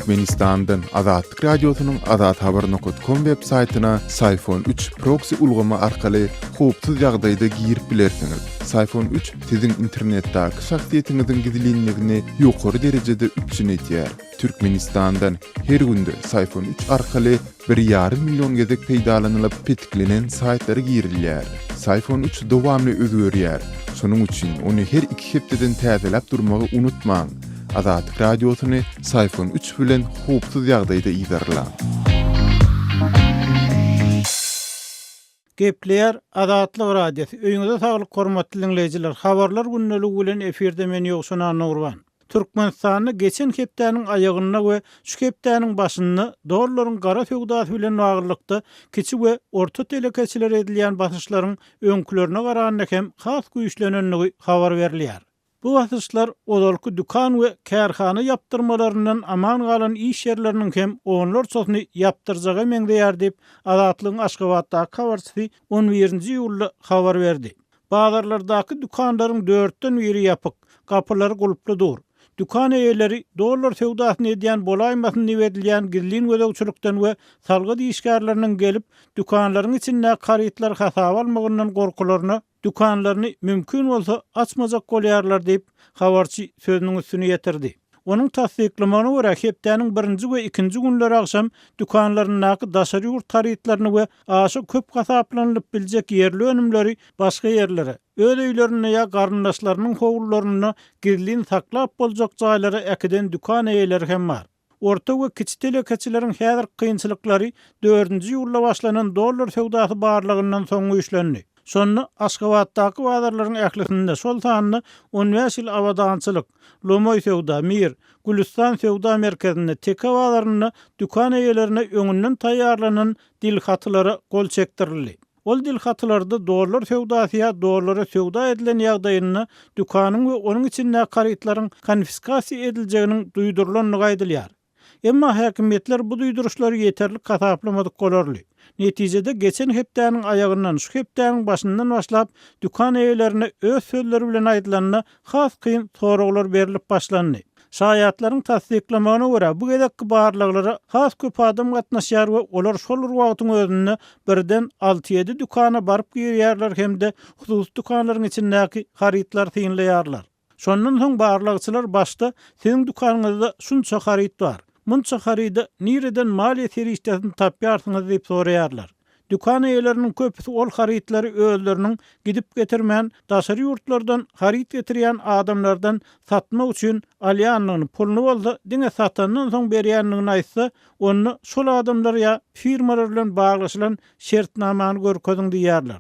Türkmenistandan Azatlyk Radiosynyň Azat Haber Nokot Kom web saytyna Sayfon 3 proksi ulgamy arkaly howpsuz ýagdaýda girip bilersiňiz. Sayfon 3 siziň internetdäki şahsyýetiňiziň gizlinligini ýokary derejede üpjün edýär. Türkmenistandan her günde Sayfon 3 arkaly Bir ýarym million gezek peýdalanylyp petiklenen saýtlara girilýär. Syfon üç dowamly özgerýär, şonuň üçin ony her iki hepdeden täzeläp durmagy unutmaň! Azatlyk Radiosyny Syfon üç bilen howpsuz ýagdaýda yzarlaň! Gepleýär Azatlyk Radiosy, öýüňize saglyk hormatly diňleýjiler, Habarlar gündeligi bilen efirde men Ýowşan Annagurban. Türkmenistanda geçen hepdäniň aýagynda we şu hepdäniň başynda dollaryň gara söwdasy bilen baglylykda kiçi we orta telekeçilere edilýän basyşlaryň öňkülerine garanda hem has güýçlenendigi habar berilýär. Bu basyşlar ozalky dükan we kärhana ýapdyrmalaryndan aman galan iş ýerleriniň hem onlarçasyny ýapdyrjaga meňzeýär diýip, Azatlygyň Aşgabatdaky habarçysy on birinji iýulda habar berdi. Bazarlardaky dükanlaryň dörtden biri ýapyk, gapylary gulply dur. Dükan eýeleri dollar söwdasyny edýän bolaýmasyn diýip edilýän gizlin gözegçilikden we salgyt işgärleriniň gelip, dükanlaryň içindäki harytlary hasaba almagyndan gorkularyna dükanlaryny mümkin bolsa açmajak bolýarlar diýip, habarçy sözüniň üstüni ýetirdi. Onuň tassyklamagyna görä, hepdäniň birinji we ikinji günleri agşam dükanlaryndaky daşary ýurt harytlaryny we aşa köp hasaplanylyp biljek ýerli önümleri başga ýerlere, öz öýlerinde ýa garyndaşlarynyň howlularynda gizlin saklap boljak jaýlara äkiden dükan eýeleri hem bar. Orta we kiçi telekeçileriň häzirki kynçylyklary dördünji iýulda başlanan dollar söwdasy barlagyndan soň güýçlendi. Şonda Aşgabatdaky bazarlaryň ählisinde, şol sanda On bäş ýyl abadançylyk, Lomoý söwda, Mir, Gülüstan söwda merkezinde, Teke bazarynda dükan eýelerine öňünden taýýarlanan dilhatylara gol çekdirildi. Ol dilhatylarda dollar söwdasy ýa dollara söwda edilen ýagdaýynda dükanyň we onuň içindäki harytlaryň konfiskasiýa ediljeginiň duýdurylandygy aýdylýar. Emma häkimiýetler bu duýduryşlary ýeterlik hasaplamadyk bolarly. Netijede geçen hepdäniň aýagyndan şu hepdäniň başyndan başlap dükan eýelerine öz sözleri bilen aýdylanda has kyn soraglar berlip başlandy. Şaýatlaryň tassyklamagyna görä, bu gezekki barlaglara has köp adam gatnaşýar we olar şol bir wagtyň özünde birden alty-ýedi dükana baryp girýärler hem-de hususy dükanlaryň içindäki harytlary synlaýarlar. Şondan soň barlagçylar başda Siziň dükanyňyzda şunça haryt bar. Munça haryda nireden maliýe serişdesini tapýarsyňyz diýip soraýarlar. Dükan eýeleriniň köpüsi ol harytlary özleriniň gidip getirmän, daşary ýurtlardan haryt getirýän adamlardan satmak üçin alýandygyny, puluny bolsa diňe satandan soň berýändigini aýtsa, onda şol adamlar ýa firmalar bilen baglaşylan şertnamany görkeziň diýýärler.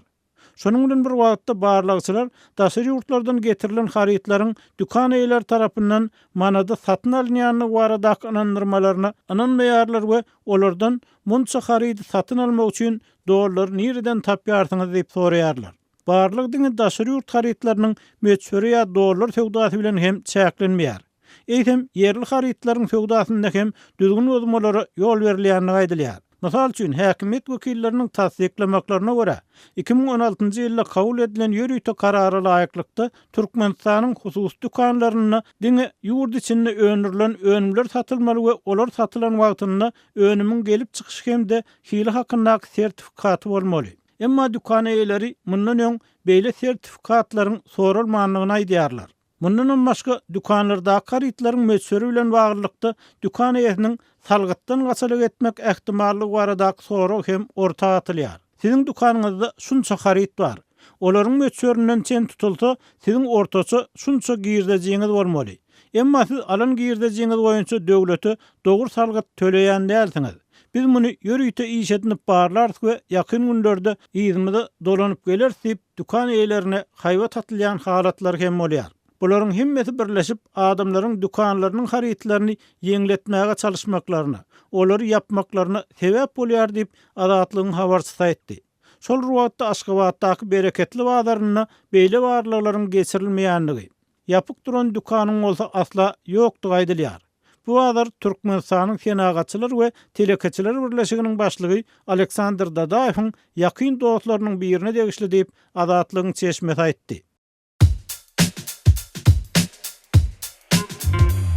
Şonuň bilen bir wagtda, barlagçylar daşary ýurtlardan getirilen harytlaryň dükan eýeleri tarapyndan manada satyn alynýandygy baradaky ynandyrmalaryna ynanmaýarlar we olardan Munça harydy satyn almak üçin dollary nireden tapýarsyňyz? diýip soraýarlar. Barlag diňe daşary ýurt harytlarynyň möçberi ýa dollar söwdasy bilen hem çäklenmeýär. eýsem, ýerli harytlaryň söwdasynda hem düzgün bozmalara ýol berilýändigi aýdylýar. Mysal üçin, häkimiýet wekilleriniň tassyklamaklaryna görä, iki müň on altynjy ýylda kabul edilen ýörite karara laýyklykda, Türkmenistanyň hususy dükanlarynda diňe ýurt içinde öndürilen önümler satylmaly we olar satylan wagtynda önümiň gelip çykyşy hem-de hili hakyndaky sertifikaty bolmaly. Emma dükan eýeleri mundan öň beýle sertifikatlaryň soralmandygyny aýdýarlar. Mundanam başga, dükanlardaky harytlaryň möçberi bilen baglylykda dükan eýesiniň salgytdan gaçylyk etmek ähtimallygy baradaky sorag hem orta atylýar. Siziň dükanyňyzda şunça haryt bar. Olaryň möçberinden çen tutulsa, siziň ortaça şunça girdejiňiz bolmaly. Emma siz alan girdejiňiz boýunça döwlete Dogry salgyt töleýän dälsiňiz. Biz muny ýörite iş edinip barlarys we ýakyn günlerde yzymyza dolanyp geleris diýip, dükan eýelerine haýbat atylýan halatlar hem bolýar. Bularyň hemmesi birleşip, adamlaryň dükanlarynyň harytlaryny ýeňletmäge çalyşmaklaryna, olary ýapmaklaryna sebäp bolýar diýip, Azatlygyň habarçysy aýtdy. Şol bir wagtda Aşgabatdaky Bereketli bazarynda beýle barlaglaryň geçirilmeýändigi, Ýapyk duran dükanyň bolsa asla ýokdugy aýdylýar. Bu bazar Türkmenistanyň Senagatçylar we telekeçiler birleşiginiň başlygy Aleksandr Dadaýewiň ýakyn dostlarynyň birine degişli diýip, Azatlygyň çeşmesi aýtdy.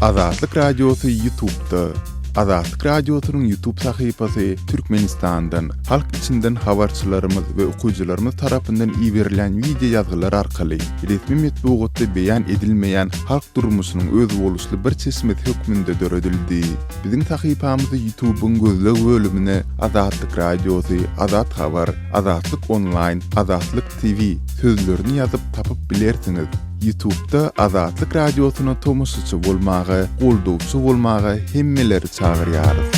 Azatlyk Radiosy Ýutubda, Azatlyk Radiosynyň Ýutub sahypasy Türkmenistandan, Halk içinden habarçylarymyz we okyjylarymyz tarapyndan iberilýän wideo ýazgylar arkaly resmi metbugatda beýan edilmeýän halk durmuşynyň özboluşly bir çeşmesi hökmünde döredildi. Biziň sahypamyzy Ýutubyň gözleg bölümine Azatlyk Radiosy, Azat Habar, Azatlyk Onlaýn, Azatlyk TV sözlerini ýazyp tapyp bilersiňiz. Ýutubda Azatlyk Radiosyna tomaşaçy bolmaga, goldawçy bolmaga hemmeleri çagyrýarys.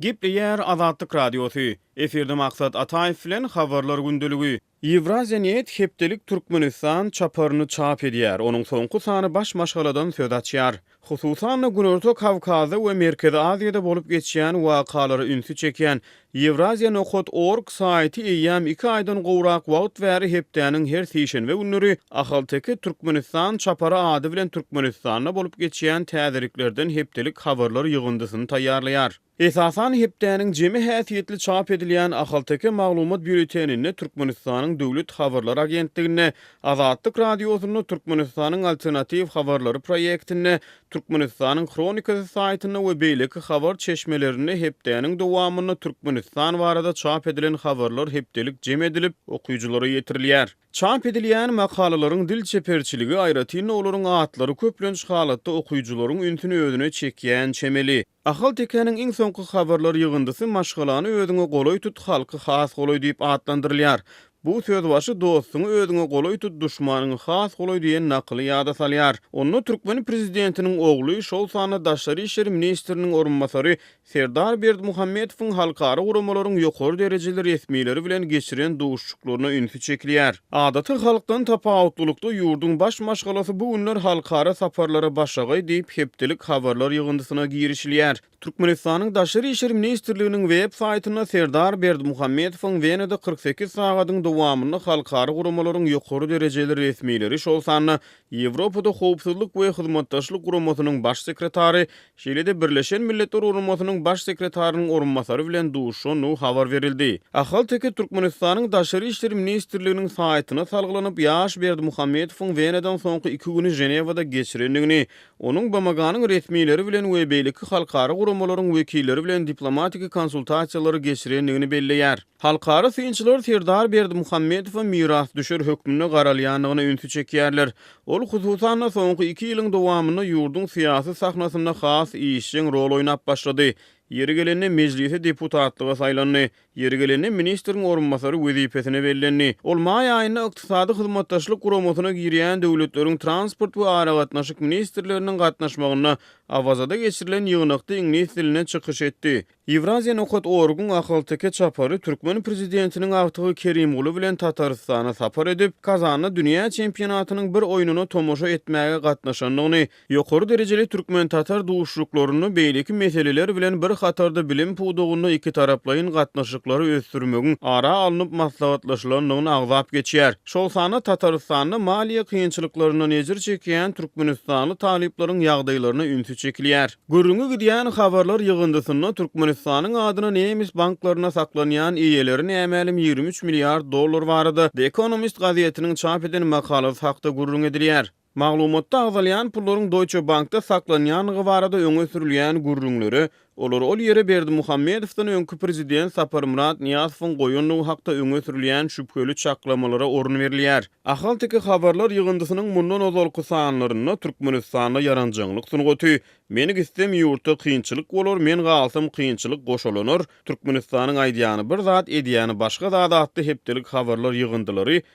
Gepleýär Azatlyk Radiosy, efirde Maksat Ataýew bilen Habarlar gündeligi. Ýewraziýanet hepdelik Türkmenistan çaparyny çap edýär, onuň soňky sany baş maşgaladan söz açýar. Hususan-da, Günorta Kawkazda we Merkezi Aziýada bolup geçýän wakalara ünsi çekýän Ýewraziýa nokat org saýty eýýäm iki aýdan gowrak wagt bäri hepdäniň her sişenbe günleri Ahalteke Türkmenistan çapary ady bilen Türkmenistanda bolup geçýän täzeliklerden hepdelik habarlar ýygyndysyny taýýarlaýar. Esasan, hepdäniň jemi häsiýetli çap edilýän Ahalteke maglumat býulleteninde, Türkmenistanyň Döwlet habarlar agentliginde, Azatlyk Radiosynda, Türkmenistanyň alternatiw habarlary proýektinde, Türkmenistanyň Hronikasy saýtynda we beýleki habar çeşmelerinde hepdäniň dowamynda Türkmenistan barada çap edilen habarlar hepdelik jem edilip, okyjylara ýetirilýär. Çap edilýän makalalaryň dil çeperçiligi, aýratyn-da olaryň atlary köplenç halatda okyjylaryň ünsüni özüne çekýän çemeli. Ahaltekäniň iň soňky habarlar ýygyndysy Maşgalany özüňe golaý tut, halky has golaý diýip atlandyrylýar. Bu sözbaşy Dostuňy özüňe golaý tut, duşmanyňy has golaý diýen nakyly ýada salýar. Onda türkmen prezidentiniň ogly, şol sanda daşary işler ministriniň orunbasary Serdar Berdimuhamedowyň halkara guramalaryň ýokary derejeli resmileri bilen geçiren duşuşyklaryna ünsi çekilýär. Adaty halkdan tapawutlylykda ýurduň baş maşgalasy bu günler halkara saparlara başagaý diýip, hepdelik habarlar ýygyndysyna girişilýär. Türkmenistanyň Daşary işler ministrliginiň web saýtynda Serdar Berdimuhamedowyň Wenada kyrk sekiz sagadyň dowamynda halkara guramalaryň ýokary derejeli resmileri, şol sanda Ýewropada Howpsuzlyk we Hyzmatdaşlyk Guramasynyň Baş sekretary, şeýle-de Birleşen Milletler Guramasynyň Baş sekretarynyň orunbasary bilen duşandygy habar berildi. Ahalteke Türkmenistanyň Daşary işler ministrliginiň saýtyna salgylanyp, ýaş Berdimuhamedowyň Wenadan soňky iki güni Ženewada geçirendigini, Onuň BMG-niň resmileri bilen we beýleki halkara guramalaryň wekilleri bilen diplomatiki konsultasiýalary geçirendigini belleýär. Halkara synçylar Serdar Berdimuhamedowa mirasdüşer hökmünde garalýandygyna ünsi çekýärler. Ol, hususan-da, soňky iki ýylyň dowamynda ýurduň syýasy sahnasynda has işjeň rol oýnap başlady. Ýeri gelende, Mejlise deputatlyga saýlandy. Ýeri gelende ministriň orunbasary wezipesine bellendi. Ol maý aýynda Ykdysady Hyzmatdaşlyk Guramasyna girýän döwletleriň transport we aragatnaşyk ministrleriniň gatnaşmagynda Awazada geçirilen ýygnakda iňlis dilinde çykyş etdi. Ýewraziýa nokat orguň ahalteke çapary türkmen prezidentiniň agtygy Kerimguly bilen Tatarystana sapar edip, Kazanda dünýä çempionatynyň bir oýnuna tomaşa etmäge gatnaşandygyny Ýokary derejeli türkmen-tatar duşuşyklarynda beýleki meseleler bilen bir hatarda bilim pudagynda ikitaraplaýyn gatnaşyklary ösdürmegiň ara alnyp maslahatlaşylandygyny agzap geçýär. Şol sanda Tatarystanda maliýe kynçylyklaryndan ejir çekýän türkmenistanly talyplaryň ýagdaýlaryna ünsi çekilýär. Gürrüňi gidýän habarlar ýygyndysynda Türkmenistanyň adyna nemes banklarynda saklanýan eýeleri nämälim ýigrimi üç milliard dollar barada The Economist gazetiniň çap eden makalasy hakda gürrüň edilýär. Maglumatda agzalýan pullaryň Deutsche Bankda saklanýandygy barada öňe sürülýän gürrüňlere, olary ol ýere Berdimuhamedowdan öňki prezident Saparmyrat Nyýazowyň goýandygy hakda öňe sürülýän şübheli çaklamalara orun berilýär. Ahalteke habarlar ýygyndysynyň mundan ozalky sanlarynda Türkmenistanda ýaranjaňlyk sungaty, Meni gitsem ýurtda kynçylyk bolar, men galsam kynçylyk goşalanar, Türkmenistanyň aýdýany bir zat, edýäni başga zat atly hepdelik habarlar ýygyndylary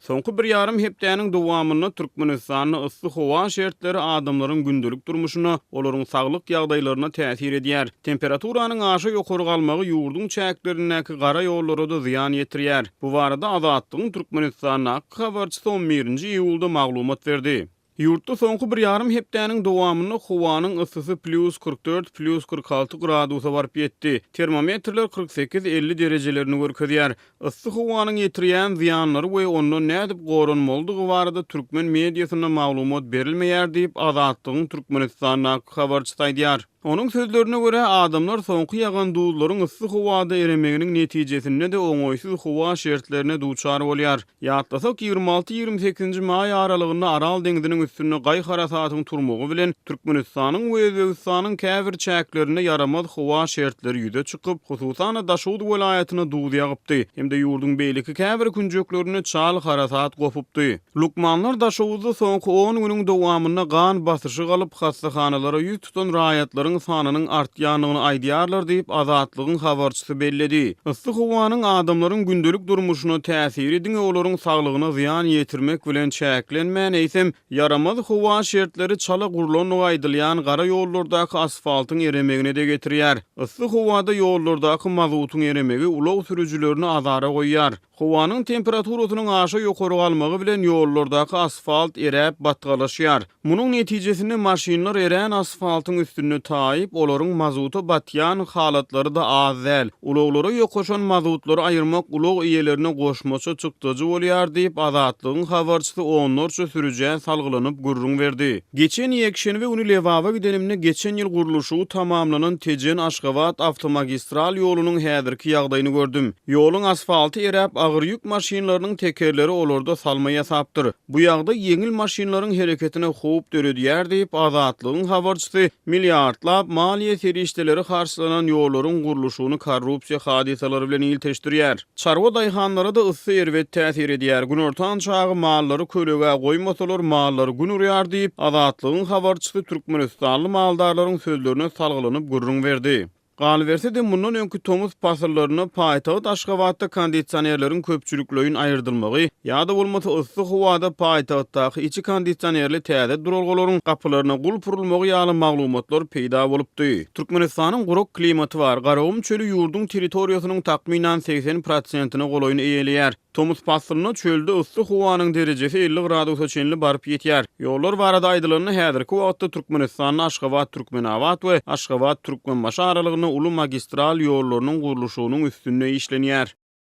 Soňky bir ýarym hepdäniň dowamynda Türkmenistanda yssy howa şertleri adamlaryň gündelik durmuşyna, olaryň saglyk ýagdaýlaryna täsir edýär. Temperaturanyň aşa ýokary galmagy ýurduň çäklerindäki gara ýollara-da zyýan ýetirýär. Bu barada Azatlygyň Türkmenistandaky habarçysy on birinji iýulda maglumat berdi. Ýurtda soňky bir ýarym hepdäniň dowamynda howanyň yssysy plýus kyrk dört, plýus kyrk alty gradusa baryp ýetdi. Termometrler kyrk sekiz, elli derejelerini görkezýär. Yssy howanyň ýetirýän zyýanlary we ondan nädip goranmalydygy barada türkmen mediasynda maglumat berilmeýär diýip, Azatlygyň Türkmenistandaky habarçysy aýdýar. Onuň sözlerine görä, adamlar soňky ýagan duzlaryň yssy howada eremeginiň netijesinde-de oňaýsyz howa şertlerine duçar bolýar. Ýatlasak, ýigrimi alty-ýigrimi sekizinji maý aralygynda Aral deňziniň üstünde gaý harasatyň turmagy bilen, Türkmenistanyň we Özbegistanyň käbir çäklerinde ýaramaz howa şertleri ýüze çykyp, hususan-da, Daşoguz welaýatyna duz ýagypdy hem-de ýurduň beýleki käbir künjeklerinde çal harasat gopupdy. Lukmanlar Daşoguzda soňky on günüň dowamynda gan basyşy galyp, hassahanalara ýüz tutan raýatlaryň sanynyň artýandygyny aýdýarlar diýip, Azatlygyň habarçysy belledi. Yssy howanyň adamlaryň gündelik durmuşyna täsiri diňe olaryň saglygyna zyýan ýetirmek bilen çäklenmän, eýsem, ýaramaz howa şertleri çala gurlandygy aýdylýan gara ýollardaky asfaltyň eremegine-de getirýär. Yssy howada ýollardaky mazutyň eremegi ulag sürüjilerini azara goýýar. Howanyň temperaturasynyň aşa ýokary galmagy bilen ýollardaky asfalt eräp, batgalaşýar. Munuň netijesinde maşynlar erän asfaltyň üstünde taýyp, olaryň mazuta batýan halatlary-da az däl. Ulaglara ýokaşan mazutlary aýyrmak ulag eýelerine goşmaça çykdajy bolýar diýip, Azatlygyň habarçysy onlarça sürüjä salgylanyp gürrüň berdi. Geçen ýekşenbe güni Lebaba gidenimde geçen ýyl gurluşygy tamamlanan Tejen-Aşgabat awtomagistral ýolunyň häzirki ýagdaýyny gördüm. Ýoluň asfalty eräp, agyr ýük maşynlarynyň tekerleri olarda salma ýasapdyr. Bu ýagdaý ýeňil maşynlaryň hereketine howp döredýär diýip, Azatlygyň habarçysy milliardlap maliýe serişdeleri harçlanan ýollaryň gurluşygyny korrupsiýa hadysalary bilen ilteşdirýär. Çarwa daýhanlara-da yssy erbet täsir edýär. Günortan çagy mallary kölegä goýmasalar, mallar gün urýar diýip, Azatlygyň habarçysy türkmenistanly maldarlaryň sözlerine salgylanyp gürrüň berdi. Galyberse-de, mundan öňki tomus pasyllarynda paýtagt Aşgabatda kondisionerleriň köpçülikleýin aýyrdylmagy ýa-da bolmasa yssy howada paýtagtdaky içi kondisionerli täze duralgalaryň gapylaryna gulp urulmagy ýaly maglumatlar peýda bolupdy. Türkmenistanyň gurak klimaty bar. Garagum çöli ýurduň territoriýasynyň takmynan segsen prosentine golaýyny eýeleýär. Tomus paslynda çölde yssy howanyň derejesi elli gradusa çenli baryp ýetýär. Ýollar barada aýdylanda, häzirki wagtda Türkmenistanda Aşgabat-Türkmenabat we Aşgabat-Türkmenbaşy aralygynda uly magistral ýollarynyň gurluşygynyň üstünde işlenýär.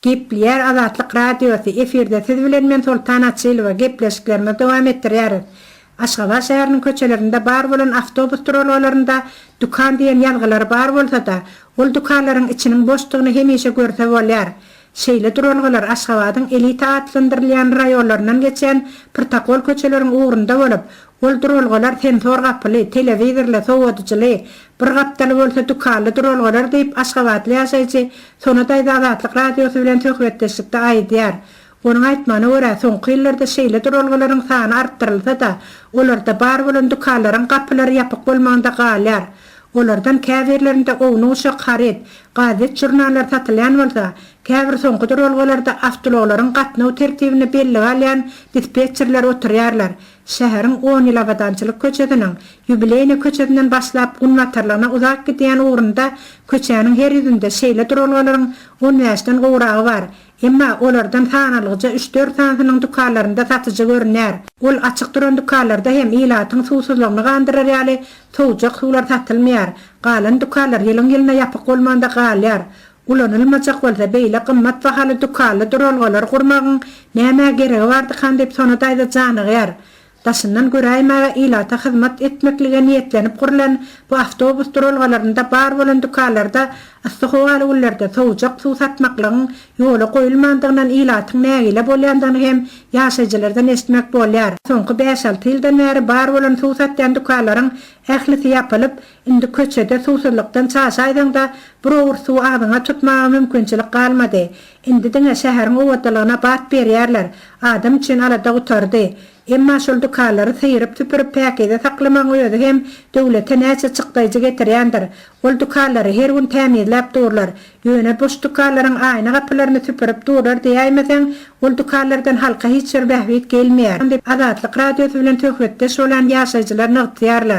Gepleýär Azatlyk Radiosy, Efirde siz bilen men Soltan Açylowa, gepleşiklerimizi dowam etdirýäris. Aşgabat şäheriniň köçelerinde bar bolan awtobus duralgalarynda Dükan diýen ýazgylary bar bolsa-da, ol dükanlaryň içiniň boşdugyny hemişe görse bolýar. Şeýle duralgalar Aşgabadyň elita atlandyrylýan raýonlaryndan geçýän prtokol köçeleriň ugrunda bolup, Ol duralgalar sensor gapyly, telewizorly, sowadyjyly, bir gapdaly bolsa dükanly duralgalar diýip, aşgabatly ýaşaýjy Sona daýza Azatlyk Radiosy bilen söhbetdeşlikde aýdýar. Onuň aýtmagyna görä, soňky ýyllarda şeýle duralgalaryň sany artdyrylsa-da, olarda bar bolan dükanlaryň gapylary ýapyk bolmagynda galýar. Olardan käbirlerinde ownuk-uşak haryt, gazet-žurnallar satylýan bolsa, käbir soňky duralgalarda awtoulaglaryň gatnaw tertibini bellige alýan dispetçerler oturýarlar. Şäheriň on ýyl abadançylyk köçesiniň Ýubileýne köçesinden başlap günbatarlygyna uzap gidýän ugrunda köçäniň her ýüzünde şeýle duralgalaryň on bäşden gowragy bar. Emma olardan sanalygyja üç-dört sanysynyň dükanlarynda satyjy görünýär. Ol açyk duran dükanlarda hem ilatyň suwsuzlygyny gandyrar ýaly sowjak suwlar satylmaýar. Galan dükanlar ýylyň-ýylyna ýapyk bolmanda galýar. Ulanylmajak bolsa beýle gymmat bahaly dükanly duralgalar gurmagyň nämä geregi bardykan diýip Sona daýza janygýar. Daşyndan göräýmäge ilata hyzmat etmeklige niýetlenip gurlan bu awtobus duralgalarynda bar bolan dükanlarda yssy howaly günlerde sowujak suw satmaklygyň ýola goýulmandygyndan ilatyň nägile bolýandygyny hem ýaşaýjylardan eşitmek bolýar. Soňky bäş-alty ýyldan bäri bar bolan suw satýan dükanlaryň ählisi ýapylyp, Indi köçede suwsuzlykdan çaşaýsaň-da, bir owurt suwy agzyňa tutmaga mümkinçilik galmady. Indi diňe şäheriň owadalygyna bat berýärler. Adam üçin alada gutardy. Emma şol dükanlary syýryp-süpürip päkize saklamagyň özi hem döwlete näçe çykdaýjy getirýändir. Ol dükanlary her gün tämizläp durlar. Ýöne boş dükanlaryň aýna gapylaryny süpürip durlar diýäýmeseň, ol dükanlardan halka hiç bir bähbit gelmeýär diýip, Azatlyk Radiosy bilen söhbetdeş bolan ýaşaýjylar nygtýarlar.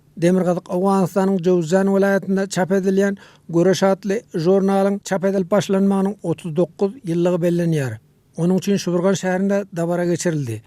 Demirgazyk Owganystanyň Jowzjan welaýatynda çap edilýän Göreş atly žurnalyň çap edilip başlanmagynyň otuz dokuz ýyllygy bellenýär. Onuň üçin Şuburgan şäherinde dabara geçirildi.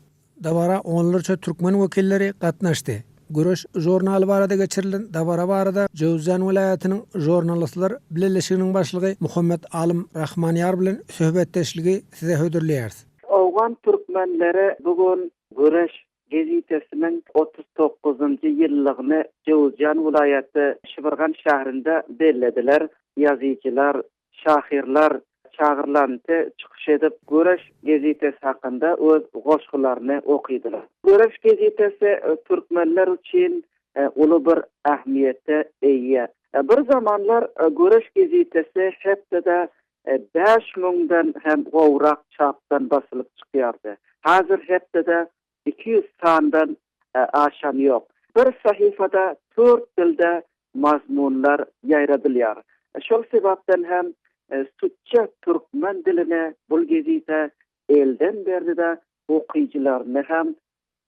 Dabara onlarça türkmen wekilleri gatnaşdy. Göreş žurnaly barada geçirilen dabara barada Jowzjan welaýatynyň Žurnalistler bileleşiginiň başlygy Muhammet Alym Rahmanýar bilen söhbetdeşligi size hödürleýäris. Owgan türkmenleri bu gün Göreş Geziýtesiniň otuz dokuzynjy ýyllygyny Jöwüzjan welaýaty Şibirgan şäherinde bellediler. Ýazyjylar, şahyrlar çagyrlanty çykyş edip, Göreş geziýtesi hakynda öz goşgularyny okydylar. Göreş geziýtesi türkmenler üçin uly bir ähmiýete eýe. Bir zamanlar Göreş geziýtesi hepdede Bäş müňden hem gowrak çapdan basylyp çykýardy. Häzir hepdede iki ýüz sandan aşany ýok. Bir sahypada dört dilde mazmunlar ýaýradylýar. Şol sebapdan hem Sütje türkmen diline bul gezite elden berdi-de, okyjylaryny hem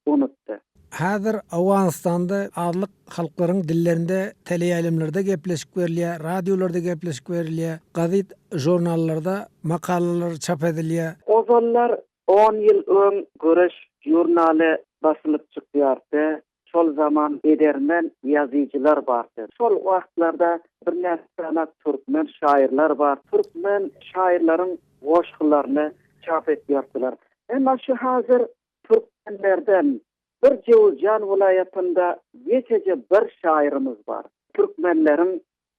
unutdy. Häzir Owganystanda azlyk halklaryň dillerinde teleýaýlymlarda gepleşik berilýär, radiolarda gepleşik berilýär, gazit, žurnallarda makalalar çap edilýär. Ozallar on ýyl öň Göreş žurnaly basylyp çykýardy, şol zaman edermen ýazyjylar bardy. Şol wagtlarda birnäçe sany türkmen şaýyrlar bar, türkmen şaýyrlaryň goşgularyny çap etýärdiler. Emma şu häzir Türkmenlerden bir Jowuzjan welaýatynda geçeje bir şaýyrymyz bar. Türkmenleriň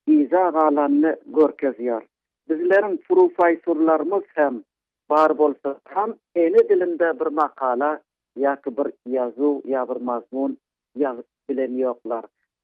yza galanyny görkezýär. Bizleriň prufaýsurlarymyz hem bar bolsa ham ene dilinde bir makala ýa-ki bir ýazuw ýa bir mazmun ýazyp bilen ýoklar.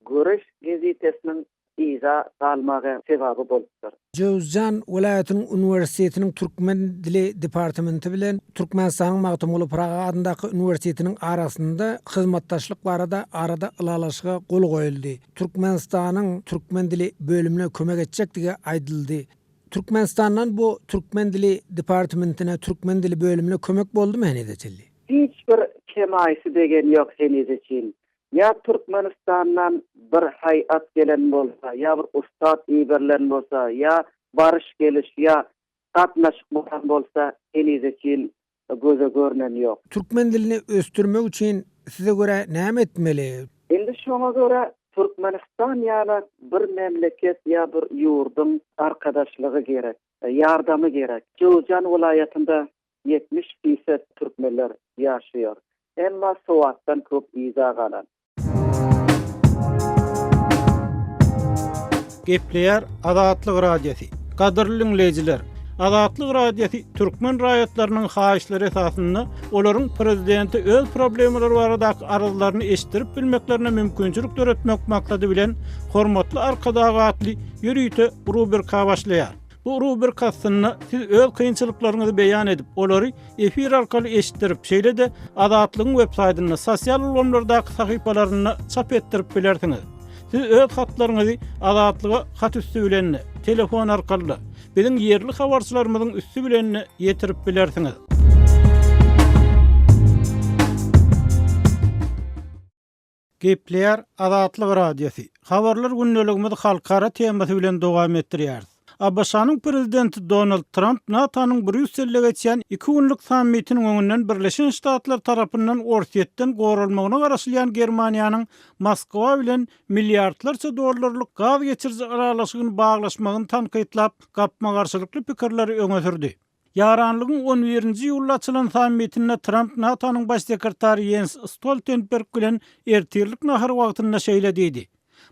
Göreş gezetesiniň yza galmagy sebäbi bolupdyr. Jöwüzjan welaýatynyň uniwersitetiniň türkmen dili departamenti bilen Türkmenistanyň Magtymguly Pyragy adyndaky uniwersitetiniň arasynda hyzmatdaşlyk barada arada ylalaşyga gol goýuldy. Türkmenistanyň türkmen dili bölümine kömek etjekdigi aýdyldy. Türkmenistandan bu türkmen dili departamentine türkmen dili bölümine kömek boldumy henize çenli? Hiç bir kemaýsy degen ýok henize çyn. Ýa Türkmenistandan bir haý at gelen bolsa, ýa bir ussat iberilen bolsa, ýa baryş geliş, ýa gatnaşyk bolan bolsa henize çyn göze görnen ýok. Türkmen dilini ösdürmek üçin size görä näme etmeli? Indi şoňa görä Türkmenistan ýala bir memleket ýa bir ýurduň arkadaşlygy gerek, ýardamy gerek. Jowzjan welaýatynda ýetmiş fiset türkmenler ýaşaýar. Emma sowatdan köp yza galan. Gepleýär Azatlyk Radiosy. Gadyrly diňleýjiler! Azatlyk Radiosy türkmen raýatlarynyň haýyşlary esasynda olaryň prezidente öz problemalary baradaky arzlaryny eşitdirip bilmeklerine mümkinçilik döretmek maksady bilen Hormatly Arkadag atly ýörite rubrika başlaýar. Bu rubrika aslynda siz öz kynçylyklaryňyzy beýan edip, olary efir arkaly eşitdirip, şeýle-de Azatlygyň web saýtynda, sosial ulgamlardaky sahypalarynda çap etdirip bilersiňiz. Siz öz hatlaryňyzy Azatlyga hat üsti bilen-de, telefon arkaly-da, biziň ýerli habarçylarymyzyň üsti bilen-de ýetirip bilersiňiz. Gepleýär Azatlyk Radiosy, Habarlar gündeligimizi halkara temasy bilen dowam etdirýäris. ABŞ-nyň Prezidenti Donald Tramp NATO-nyň Brýusselde geçýän iki günlük sammitiniň öňünden Birleşen Ştatlar tarapyndan Orsýetden goralmagyna garaşylýan Germaniýanyň Moskwa bilen milliardlarça dollarlyk gaz geçiriji yralaşygyny baglaşmagyny tankytlap, gapma-garşylykly pikirleri öňe sürdi. Ýaranlygyň on birinji ýylda açylan sammitinde Tramp NATO-nyň baş sekretary Ýens Stoltenberg bilen ertirlik nahar wagtynda şeýle diýdi,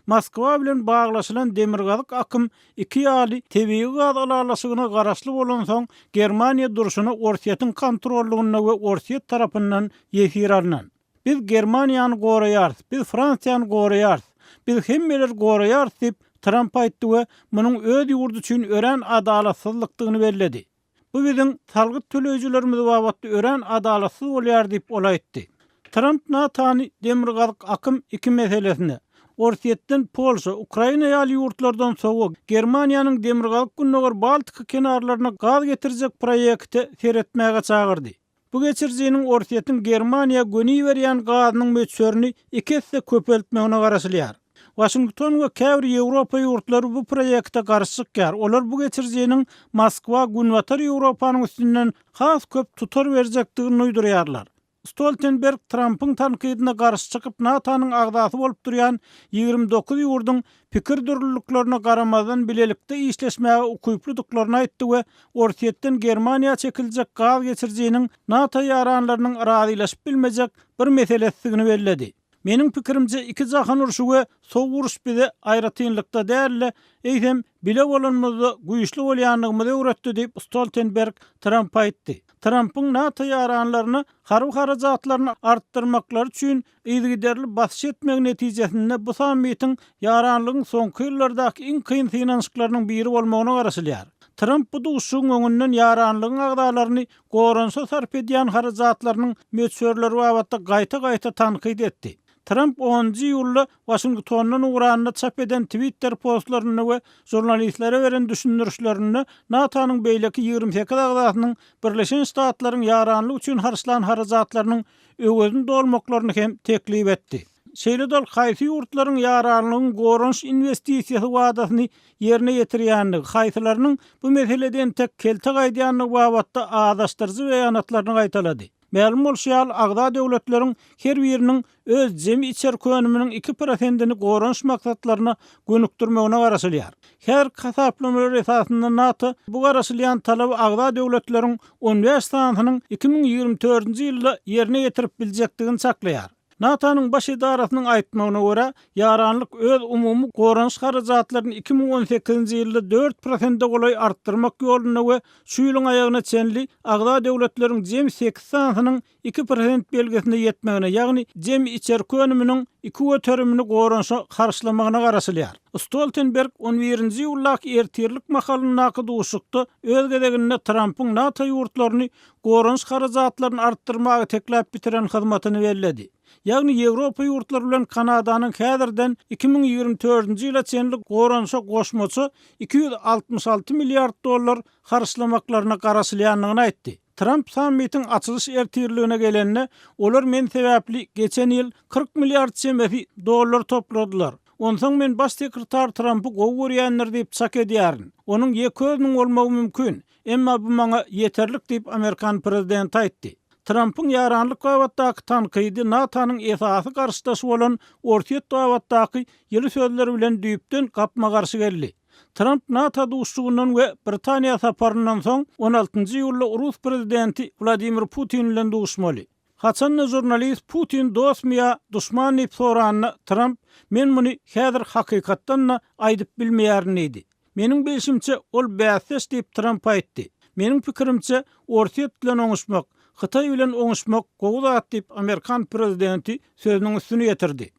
Moskwa bilen baglaşylan Demirgazyk akym iki ýaly tebigy gaz ylalaşygyna garaşly bolansoň, Germaniýa durşuna Orsýetiň kontrollygynda we Orsýet tarapyndan ýesir alnan. Biz Germaniýany goraýarys, biz Fransiýany goraýarys, biz hemmeleri goraýarys diýip, Tramp aýtdy we munuň öz ýurdy üçin örän adalatsyzlykdygyny belledi. Bu biziň salgyt töleýjilerimiz babatda örän adalatsyz bolýar diýip, ol aýtdy. Tramp NATO-ny Demirgazyk akym iki meselesinde, Orsýetden Polşa, Ukraina ýaly ýurtlardan sowa, Germaniýanyň Demirgazyk-Gündogar Baltika kenarlaryna gaz getirjek proýekte seretmäge çagyrdy. Bu geçirijiniň Orsýetiň Germaniýa gönüberýän gazynyň möçberini iki esse köpeltmegine garaşylýar. Waşington we käbir Ýewropa ýurtlary bu proýekte garşy çykýar, olar bu geçirijiniň Moskwa Günbatar Ýewropanyň üstünden has köp tutar berjekdigini duýdurýarlar. Stoltenberg Trampyň tankydyna garşy çykyp NATO-nyň agzasy bolup durýan ýigrimi dokuz ýurduň pikir dürlüliklerine garamazdan bilelikde işleşmäge ukyplydyklaryny aýtdy we Orsýetden Germaniýa çekiljek gaz geçirijiniň NATO ýaranlarynyň razylaşyp bilmejek bir meselesidigini belledi. Meniň pikirimçe, iki jahan urşy we sowuk uruş bize aýratynlykda däl-de, eýsem, bile bolanymyzda güýçli bolýandygymyzy öwretdi diýip, Stoltenberg Trampa aýtdy. Trampyň NATO ýaranlaryna harby harajatlaryny artdyrmaklary üçin Yzygiderli basyş etmegi netijesinde bu sammitiň ýaranlygyň soňky ýyllardaky iň kyn synanyşyklarynyň biri bolmagyna garaşylýar. Tramp bu duşuşygyň öňünden ýaranlygyň agzalaryny goranyşa sarp edýän harajatlarynyň möçberleri babatda gaýta-gaýta tankyt etdi. Tramp onunjy iýulda Waşingtondan ugranda çap eden Twitter postlarynda we žurnalistlere beren düşündirişlerinde NATO-nyň beýleki ýigrimi sekiz agzasynyň Birleşen Ştatlaryň ýaranlyk üçin harçlan harajatlarynyň Öwezini dolmaklaryny hem teklip etdi. Şeýle-de ol haýsy ýurtlaryň ýaranlygyň goranyş inwestisiýasy wadasyny ýerine ýetirýändigi, haýsylarynyň bu meselede entek kelte gaýdýandygy babatda azaşdyryjy beýanatlaryny gaýtalady. Mälim bolşy ýaly, agza döwletleriň her biriniň öz jemi içerki önüminiň iki prosentini goranyş maksatlaryna gönükdirmegine garaşylýar. Her hasaplamalar esasynda NATO bu garaşylýan talaby agza döwletleriň on bäş sanysynyň iki müň ýigrimi dördünji ýylda ýerine ýetirip biljekdigini çaklaýar. NATO-nyň Baş edarasynyň aýtmagyna görä, ýaranlyk öz umumy goranyş harajatlaryny iki müň on sekizinji ýylda dört prosente golaý artdyrmak ýolunda we şu ýylyň aýagyna çenli agza döwletleriň jemi sekiz sanysynyň iki prosent belgisine ýetmegine, ýagny jemi içerki önüminiň iki göterimini goranyşa harçlamagyna garaşylýar. Stoltenberg on birinji iýuldaky ertirlik mahalyndaky duşuşykda öz gezeginde Trampyň NATO ýurtlaryny goranyş harajatlaryny artdyrmaga tekläp bitiren hyzmatyny belledi. Ýagny Ýewropa ýurtlary bilen Kanadanyň häzirden iki müň ýigrimi törünji ýyla çenli goranyşa goşmaça iki ýüz altmyş alty milliard dollar harçlamaklaryna garaşylýandygyny aýtdy. Tramp sammitiň açylyş ertirligine gelende, olar men sebäpli geçen ýyl kyrk milliard çemesi dollar topladylar. Onsoň men baş sekretar Trampy gowy görýändir diýip çak edýärin. Onuň ýeke özüniň bolmagy mümkin, emma bu maňa ýeterlik diýip amerikan prezidenti aýtdy. Trampyň ýaranlyk babatdaky tankydy NATO-nyň esasy garşydaşy bolan Orsýet babatdaky ýyly sözler bilen düýpden gapma-garşy geldi. Tramp NATO duşuşygyndan we Britaniýa saparyndan soň on altynjy iýulda rus prezidenti Wladimir Putin bilen duşuşmaly. Haçan-da žurnalist Putin dostmy ýa duşman diýip soranda, Tramp, Men muny häzir hakykatdan-da aýdyp bilmeýärin diýdi. Meniň bilşimçe, ol bäsdeş diýip Tramp aýtdy. Meniň pikirimçe, Orsýet bilen oňuşmak, Hytaý bilen oňuşmak gowy zat diýip amerikan prezidenti sözüniň üstüni ýetirdi.